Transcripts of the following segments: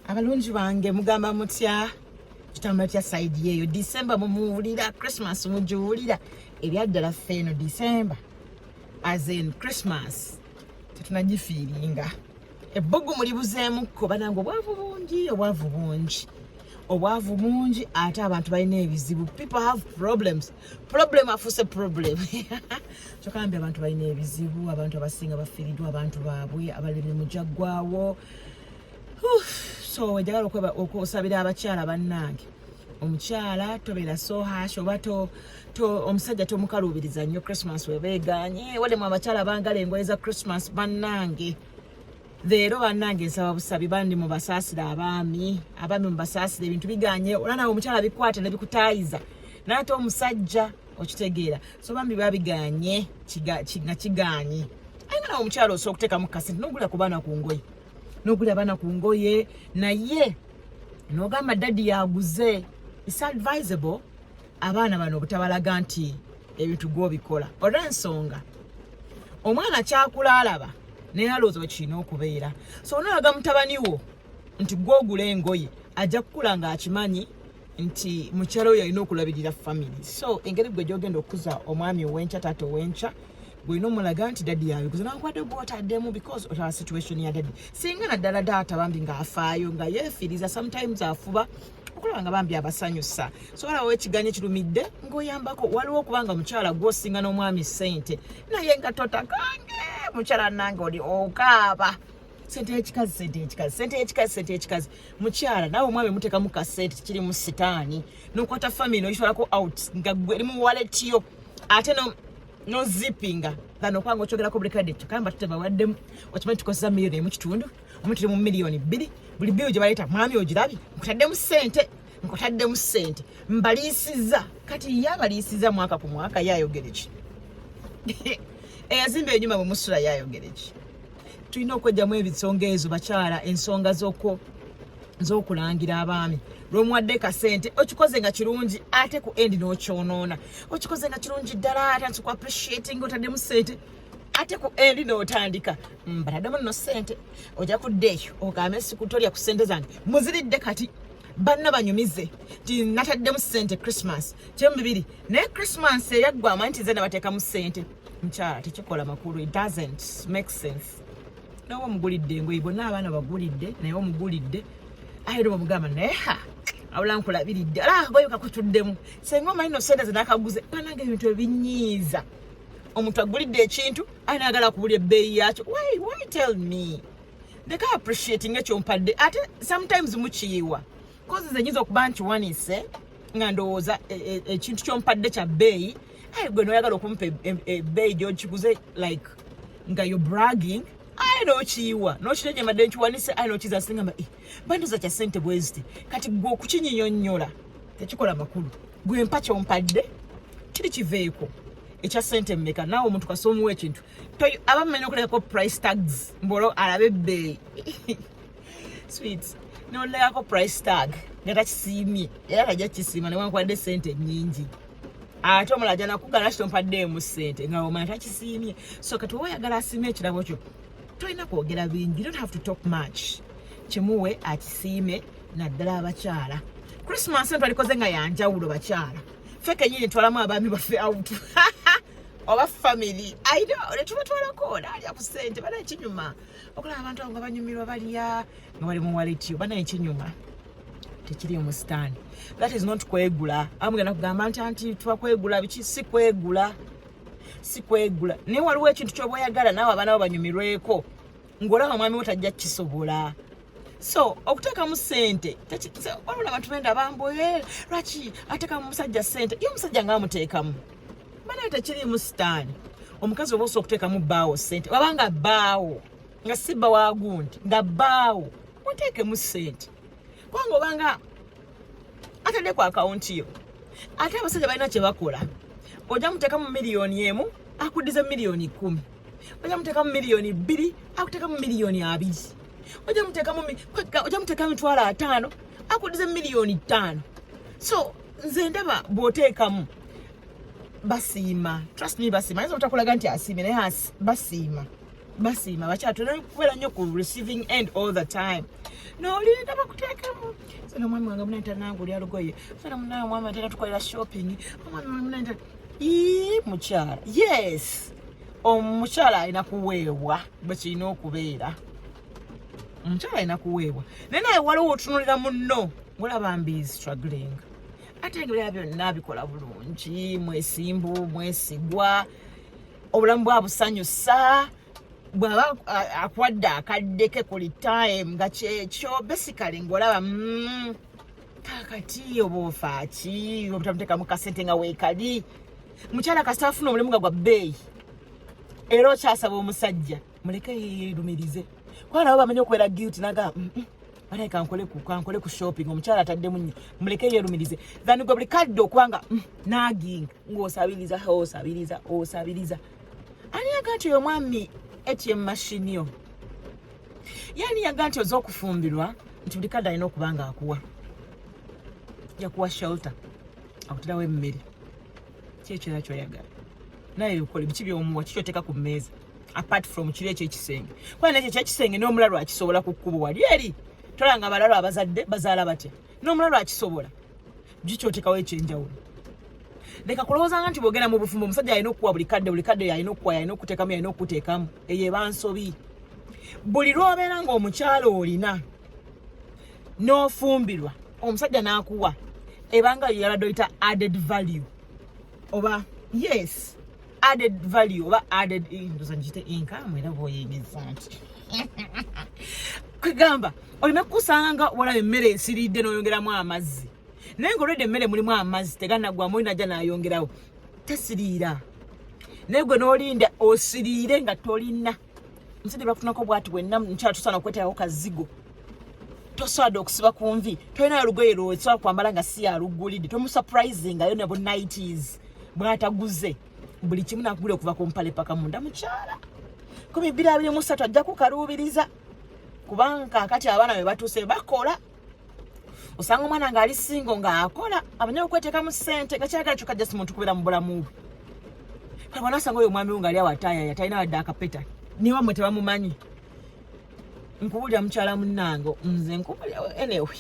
abalungi bange mugamba mutya kitambula kya saidi yeeyo disemba mumuwulira christmas mugiwulira ebyaddala ffe eno disemba as in christmas tetunagifiiringa ebbugu mulibuzeemukko banange obwavu bungi obwavu bungi obwavu bungi ate abantu balina ebizibu people have problems problem afuuse problem kyokambi abantu balina ebizibu abantu abasinga bafiiridwa abantu baabwe abalimi mujaggwawo so wejagala okusabira abakyala bannange omukyala tobeera so hash oba omusajja tomukaluubiriza nnyo christmas webeeganye walemu abakyala bangala engoye za christmas bannange leero bannange nsaba busabi bandi mubasaasire abaami abaami mubasaasire ebintu biganye olanawe omukyala bikwata nebikutayiza naye ate omusajja okitegeera so bambi babiganye nga kiganye aye nga nawe omukyalo osobola okuteekamu kasente nogula ku baana ku ngoye nogula abaana ku ngoye naye nogamba daddy yaguze is advisable abaana bano obutabalaga nti ebintu gwobikola olwensonga omwana kyakula alaba naye alowooza wekirina okubeera so onalaga mutabani wo nti gwogula engoye ajja kukula ngaakimanyi nti mukyala we yalina okulabirira family so engeri gwe gyogenda okukuza omwami owenkya taata owenkya gwolina omulaga nti dadi yabikuza nankubadde gwotaddemu because otaba situation ya dadi singa naddala daata bambi ngaafaayo nga yefiiriza sometimes afuba okulaba nga bambi abasanyusa sobola wa ekiganyo ekirumidde ngaoyambako waliwo okubanga mukyala gwosinga n'omwami sente naye nga totakange mukyala nange oli okaaba sente yekikazi sente yekikazi sente yekikazi sente yekikazi mukyala nawe omwami mutekamu kasente kiri mu sitaani nokwata family oyitwalako out nga gwe eri mu wallet yo ate no no zippinga than okwanga okyogerako buli kadde kyokka mba tutebawaddemu okimanyi tukozesa miliyoni emu kitundu omu tuli mu miliyoni bbiri buli biyo gye baleeta mwami ogirabye nkutaddemu ssente nkutaddemu ssente mbaliisiza kati ye abaliisiza mwaka ku mwaka ye ayogere ki eyazimba enyuma bwe musula ye ayogere ki tulina okwejjamu ebisonga ezo bakyala ensonga zoko zokulangira abaami lwomuwadde kasente okikoze nga kirungi ate ku endi nokyonoona okikoze nga kirungi ddala ate nti ku appreciating otaddemu sente ate ku endi notandika mbatademu mm, no sente oja kudda eyo ogambe sikutolya ku sente zange muziridde kati banna banyumize ti nataddemu sente christmas kyemu bibiri naye christmas eyaggwa amanyi ti ze nabateekamu sente mukyala tekikola makulu it doesn't make sense nawe omugulidde engoye bonna abaana bagulidde naye omugulidde aye era omugamba naye ha awula nkulabiridde ala akagoye kakutuddemu senga omanyi no sente zenakaguze banange ebintu ebinyiiza omuntu agulidde ekintu aye nagala kubula ebbeeyi yakyo why why tell me ndeka appreciating ekyompadde ate sometimes mukiyiwa kozi zenyinza okuba nti wanise nga ndowooza e, e, ekintu kyompadde kya bbeeyi aye gwe noyagala okumpa ebbeeyi e, gyokiguze like nga yo bragging aye nokiyiwa nokiteje mbadde nkiwanise aye nokiza singamba eh, bandoza kya sente bweziti kati gwe okukinyinyonyola tekikola makulu gwe mpa kyompadde kiri kiveeko ekya sente mmeka naawe omuntu kasoomuwa ekintu abamumenya okulekako price tags mbolo alabe ebbeeyi sweet nolekako price tag nga takisiimye era tajja kisiima newankubadde sente nyingi ate omulala ajja nakugala kitompaddeemu sente nga omala takisiimye so kati oba oyagala asiime ekirabo kyo tolina kwogera bingi you don't have to talk much kimuwe akisiime naddala abakyala christmas eno twalikoze nga yanjawulo bakyala fe kenyini twalamu abaami baffe out oba family aina netubatwalako naalya ku sente bana ekinyuma okulaba abantu abo nga banyumirwa balya nga bali mu waleti oba naye kinyuma tekiri mu sitaani that is not kwegula amugenda kugamba nti anti tuba kwegula biki si kwegula si kwegula naye waliwo ekintu kyoba oyagala naawe abaana bo banyumirweko ng'olaba omwami wo tajja kisobola so okuteekamu sente waliwo abantu benda bamboye lwaki ateekamu musajja sente ye omusajja ngaamuteekamu banaye tekiriimu sitaani omukazi oba osobola okuteekamu bbaawo ssente waba nga bbaawo nga si bba wagundi nga bbaawo muteekemu ssente kubanga obanga atadde ku akawunti yo ate abasajja balina kye bakola ojja muteekamu miliyoni emu akuddize miliyoni kumi ojja muteekamu miliyoni bbiri akuteekamu miliyoni abiri ojja muteekamu ojja muteekamu mitwalo ataano akuddize miliyoni ttaano so nze ndaba bw'oteekamu basiima trust me basiima ayinza obutakulaga nti asiimye naye basiima basiima bakyala tulina kubeera nnyo ku receiving end all the time nolinda bakuteekemu sona omwami wange munaita nange oli alugoye sona munaye omwami atera tukolera shopping omwami wange munaita ii mukyala yes omukyala alina kuweebwa bwekirina okubeera omukyala alina kuweebwa naye naye waliwo otunulira munno mulaba mbizi struggling ate ebirala byonna bikola bulungi mwesimbu mwesigwa obulamu bwabusanyusa bwaba akwadde akadde ke kuli time nga kyekyo basically ngaolaba mm, kakati oba ofaaki obutamutekamu kasente nga weekali mukyala kasita afuna omulimu nga gwa bbeeyi era okyasaba omusajja muleke yeyerumirize kuba nabo bamanyi okubeera guilty naga mm, mm, banaye kankole ku kankole ku shopping omukyala ataddemu nnyo muleke yerumirize than gwe buli kadde okubanga mm, nagging ng'osabiriza osabiriza osabiriza ani yaga nti oyo omwami atm mashini yo yani yaga nti oza okufumbirwa nti buli kadde alina okuba nga akuwa yakuwa shelter akutirawo emmere kyekira kyoyagala naye bikole biki byomuwa kikyoteeka ku mmeeza apart from kiri ekyo ekisenge kuba nekyo kyekisenge n'omulalu akisobola ku kkubo wali eri tolanga abalalu abazadde bazaala batya n'omulalu akisobola gikyoteekawo ekyenjawulo leka kulowooza nga nti bwogenda mu bufumbo omusajja alina okukuwa buli kadde buli kadde yalina okukuwa yalina okuteekamu yalina okuteekamu eyo ebansobi buli lwobeera ngaomukyalo olina n'ofumbirwa omusajja n'akuwa ebanga yo yabadde oyita added value oba yes added value oba added ndoza ngite income era bwoyegeza nti kwegamba olina kukusanga nga walaba emmere esiridde n'oyongeramu amazzi naye nga olwedde emmere mulimu amazzi teganaggwamu olina ajja n'ayongerawo tesiriira naye gwe n'olinda osiriire nga tolina nzide bakutunako bwati bwenna mukyala tosaana okweteekako kazigo tosaada okusiba ku nvi tolinayo lugoye lwosobola kwambala nga si yaluggulidde tomusuprisingayo ne bunighties bwataguze buli kimu nakugula okuva ku mpale paka munda mukyala kumi bbiri abiri musatu ajja kukaluubiriza kubanga kakati abaana be batuuse bakola osanga omwana ng'ali singo ng'akola abanye okweteeka mu ssente nga kyagala kyokka just muntu kubeera mu bulamu bwe kale bwana osanga oyo omwami wo ng'ali awo atayaya talina wadde akapeta niwa mwe tebamumanyi nkubulira mukyala munnange nze nkubulira anyway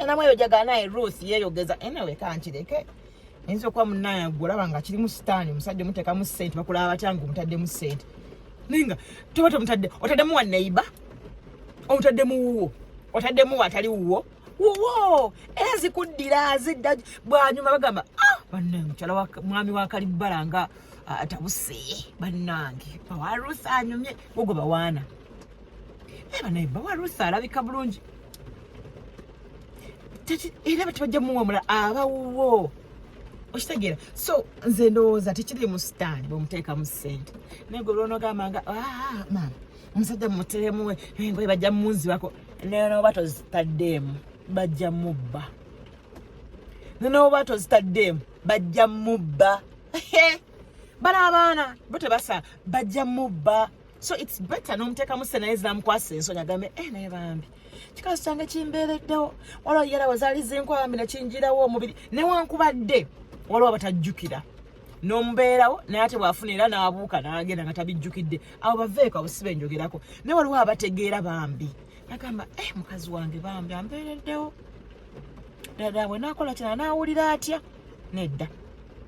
namu eyo jagala naye ruth yeeyogeza anyway kankireke ayinza okuba munaye gwe olaba nga kirimu sitaani omusajja omutekamu sente bakulaba batya nga omutaddemu sente naye nga toba tomutadde otaddemu wa neiba omutaddemu wuwo otaddemu watali wuwo wuwo era zikuddira zidda bwanyuma bagamba ah, banne mukyala mwami wakalibbala nga atabuse ah, bannange bawarusa anyumye gogo bawaana eba naye bawa ruth alabika bulungi era batibajja muwamula abawuwo okitegeera so nze ndowooza tekiri mu sitaani bwemuteekamu ssente naye gwe olwonogamba nga ah, maama omusajja muteremu engoye bajja munzibako nenoba tozitaddeemu bajja mubba nenoba tozitaddeemu bajja mubba bala abaana bo tebasa bajja mubba so it's better nomuteekamu sente naye zinamukwasa ensonyi agambe e eh, naye bambi kikazi kyange kimbeereddewo waliwo yalawo zaali zinkwa bambi nekinjirawo omubiri newankubadde waliwo abatajjukira nomubeerawo naye ate bwafuna era nabuuka nagenda nga tabijjukidde abo baveeko abo siba enjogerako naye waliwo abategeera bambi nagamba e eh, mukazi wange bambi ambeereddewo dada bwe nakola kina nawulira atya nedda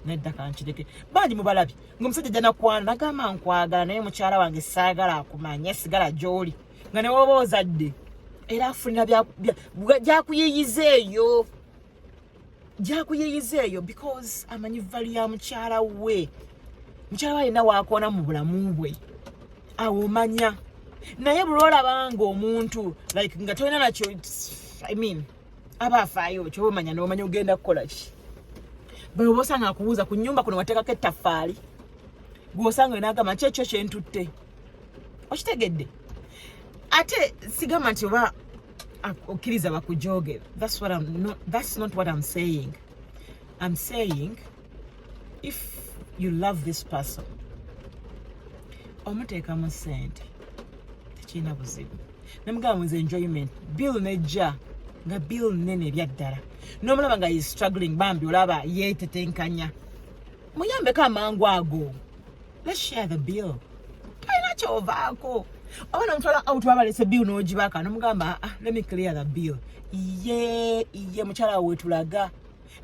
nedda kankireke bangi mubalabye nga omusajja janakwana nagamba nkwagala naye mukyala wange saagala akumanya sigala gyoli nga newoba ozadde era afunira gyakuyiyiza eyo gyakuyiyiza eyo because amanyi vali ya mukyala we mukyala we alina wakoona mu bulamu bwe awo omanya naye bulwolabanga omuntu like nga tolina nakyo i mean aba afaayo kyoba omanya nomanya ogenda kukola ki bwe oba osanga akubuuza ku nyumba kuno wateekako ettaffaali gwosanga enagamba kyekyo kyentutte okitegedde ate sigamba nti oba okkiriza bakujogera that's not what I'm saying I'm saying if you love this person omuteekamu sente tekirina buzibu namugamba muze enjoyment bill nejja nga bill nene ebyaddala nomulaba nga is struggling bambi olaba yetetenkanya muyambeko amangu ago let's share the bill tolina kyovaako oba nomutwala out wabalese bill nogibaka nomugamba ah, let me clear the bill iye iye mukyala wetulaga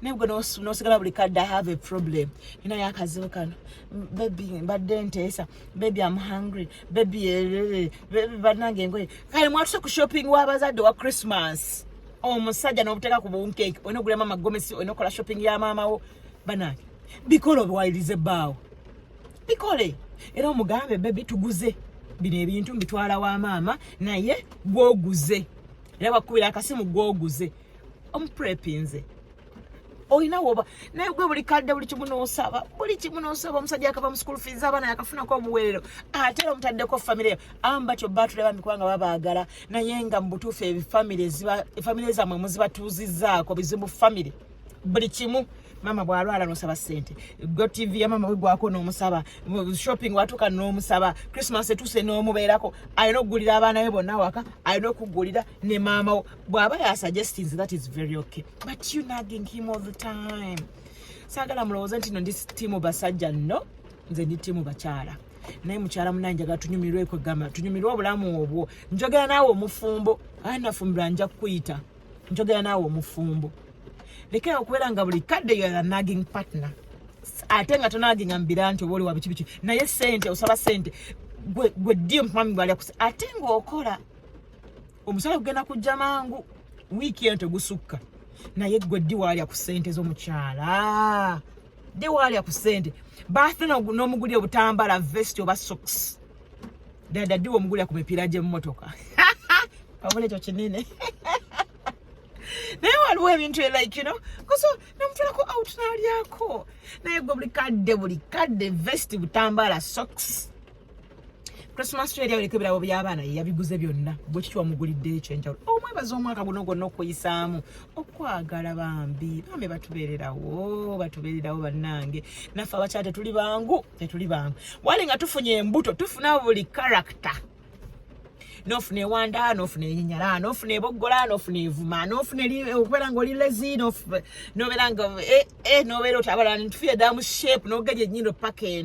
naye gwe nosigala buli kadde i have a problem nina yakazibu kano bebi mbadde nteesa bebi am hungry bebi eh, bebi banange engoye kale mwatuse ku shopping wabazadde wa christmas omusajja nobuteeka ku bunkeeki olina ogula maama gomesi olina okola shopping ya maama wo banange bikole obiwalirize ebbaawo bikole era omugambe bebi tuguze bino ebintu mbitwala wa maama naye gwoguze era bakubira akasimu gwoguze omuprepinze olina woba naye gwe buli kadde buli kimu nosaba buli kimu nosaba omusajja akava mu school fees abaana yakafunako obuweerero ate era omutaddeko famire yo amu batyo batule bambi kubanga babaagala naye nga mu butuufu efamire zammwe muzibatuuzizaako bizibu famire buli kimu mama bwalwala nosaba sente go tv ya mama wegwako nomusaba shopping watuka nomusaba christmas etuse nomubeerako alina okugulira abaana be bonna waka alina okugulira ne maama bw'aba yasuggestinze that is very okay but you nagging him all the time saagala mulowooze nti no ndi tiimu basajja nno nze ndi tiimu bakyala naye mukyala munange njagala tunyumirwe ekwegamba tunyumirwe obulamu obwo njogera naawe omufumbo aa nafumbira nja kukuyita njogera naawe omufumbo lekera okubeera nga buli kadde yoa nagging partner ate nga tonaginga mubira nti oba oli wabiki biki naye sente osaba sente gwe gwe ddi omupamibwalyakusa ate ngaokola omusala kugenda kujja mangu wiiki eno tegusukka naye gwe ddi waalya ku ssente z'omukyala ddi waalya ku ssente baathe n'omuguli obutambala vesti oba soks dada ddi womugulira ku mipiira gy'emmotoka wabula ekyo kinene naye waliwo ebintu elike no koso namutulako out nalyako naye gwe buli kadde buli kadde vesti butambala soks Christmas tree yali eriko ebirabo by'abaana ye yabiguze byonna bwe kityo wamugulidde ekyenjawulo omwebaza oh, omwaka guno gwonna okuyisaamu okwagala bambi bambi batubeererawo batubeererawo bannange naffe abakyala tetuli bangu tetuli bangu wali nga tufunye embuto tufuna buli character nofuna ewanda nofuna enyinyala nofuna eboggola nofuna evuma nofuna okubeera nga oli lezi nobeera nga eh, eh, nobeera otabalani tufuye damu shape nogeja enyindo paka eno